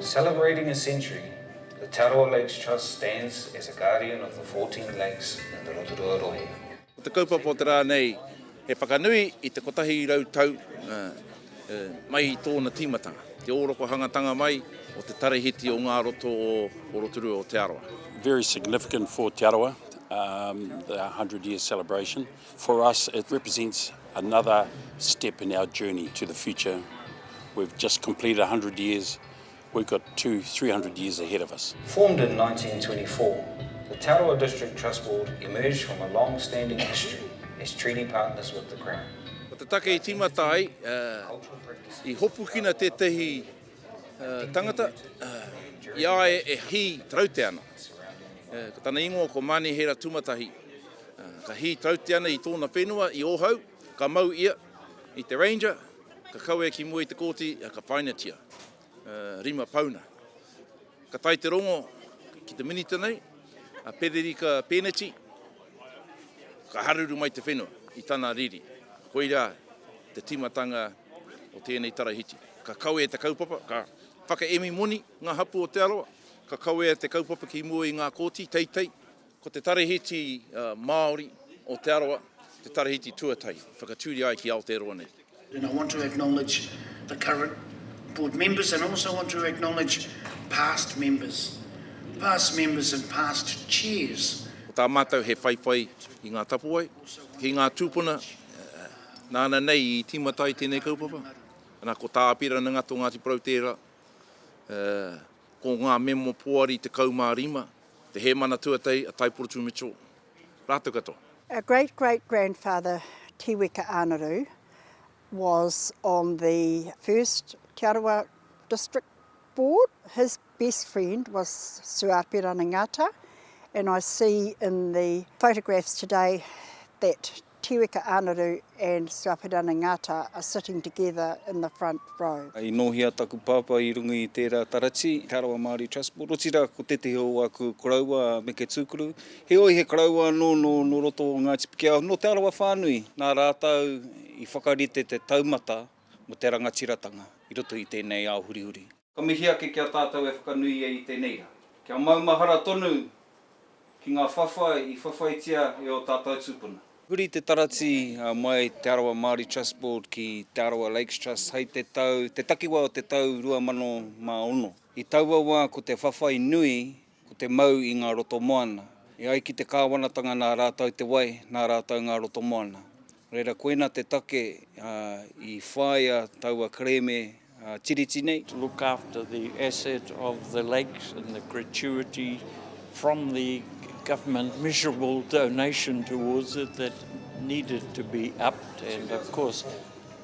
Celebrating a century, the Te Arawa Lakes Trust stands as a guardian of the 14 lakes in the Rotorua Rohe. Ko te kaupapa o te rā nei he whakanui i te kotahi rau tau mai i tōna tīmatanga, te ōrokohangatanga mai o te tarahiti o ngā roto o Rotorua o Te Arawa. Very significant for Te Arawa, the hundred year celebration. For us it represents another step in our journey to the future. We've just completed 100 years, we've got two, 300 years ahead of us. Formed in 1924, the Te Arawa District Trust Board emerged from a long standing history as treaty partners with the Crown. Ko te take i tīmata ai, i hopukina tētehi tangata, i a ia e hī trautea ana. Ko tana ingoa ko Manihera Tumatahi, Ka hī Tautiana i tōna whenua i Ōhau, ka mau ia i te Ranger, ka kawe ki mua i te kōti, ā, ka whainatia. Rima pauna. Ka tae te rongo ki te Minita nei, a Pererika Pēneti, ka haruru mai te whenua i tana riri. Koirā te tīmatanga o tēnei tarahiti. Ka kawea te kaupapa, ka whakaemi moni ngā hapū o Te Arawa, ka kawea te kaupapa ki mua i ngā kōti, teitei, Ko te Tarahiti Māori o Te Arawa te Tarahiti tuatahi whakatūria ai ki Aotearoa nei. And I want to acknowledge the current board members and also want to acknowledge past members, past members and past chairs. Ko tā mātou he whaiwhai i ngā tapuwae, ki ngā tūpuna nāna nei i tīmata ai tēnei kaupapa, ana ko Tā Apirana Ngato Ngāti Porou tērā, Ko ngā memo poari 15, te Hēmana Tuatahi a Taiporotū Mitchell rātou katoa. Our great great grandfather Tiweka Ānaru was on the first Te Arawa district board. His best friend was Sir Apirana Ngata and I see in the photographs today that Tiweka Anaru and Suaperana Ngata are sitting together in the front row. I nōhia taku pāpā i runga i tērā taratī, Te Arawa Māori Trust Board, otirā ko tētehi o āku koroua a Meke Tūkuru, heoi he koroua anō nō roto o Ngāti Pikiao, nō Te Arawa whānui. Nā rātou i whakarite te taumata mō te rangatiratanga i roto i tēnei ao hurihuri. Ka mihi ake ki a tātou e whakanuia i tēnei rā. Kia maumahara tonu ki ngā whawhai i whawhaitia e ō tātou tūpuna. Huri te taratī mai Te Arawa Māori Trust Board ki Te Arawa Lakes Trust hei te tau, te takiwā o te tau 2006. I taua wā ko te whawhai nui Ko te mau i ngā roto moana. E ai ki te kāwanatanga nā rātou te wai, nā rātou ngā roto moana. Reira koina te take i whāia taua kerēme Tiriti nei. To look after the asset of the lakes and the gratuity from the government measurable donation towards it that needed to be upped and of course.